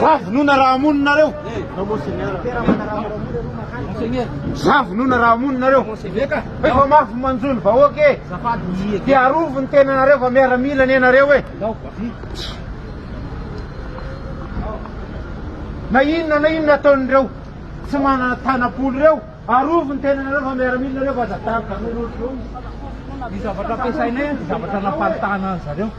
Za vonoina raha hamono nareo. Za vonoina raha hamono nareo. Efa mafy manjo ny vahoaka e. Dia arovy ny tenanareo fa miaramila anie nareo e. Na inona na inona ataon'ireo tsy manana tanam-polo ireo, arovy ny tenanareo fa miaramila nareo fa aza taroka. Ny zavatra ampiasainay, ny zavatra namparitahana an'zareo.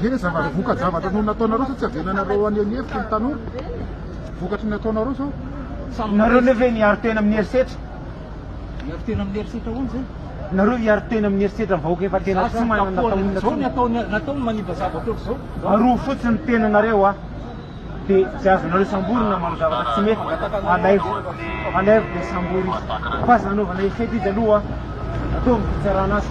Ve zavatra voka-javatra no nataonareo sao tsy havelanareo any any hevitra ny tanora? Vokatry ny nataonareo sao samy Nareo nareo ve miaro tena amin'ny herisetra? Miaro tena amin'ny herisetra ahoana izay? Nareo hiaro tena amin'ny herisetra ny vahoaka efa tena tsy manana taona inona Zao ny intsony. ataony, nataony manimba zavatra ohatr'izao. Aroa fotsiny ny tenanareo a! dia tsy azonareo samborina manao zavatra tsy mety alaivo alaivo dia sambory izy fa aza anaovana effet izy aloha ataovy ny fitsarana azy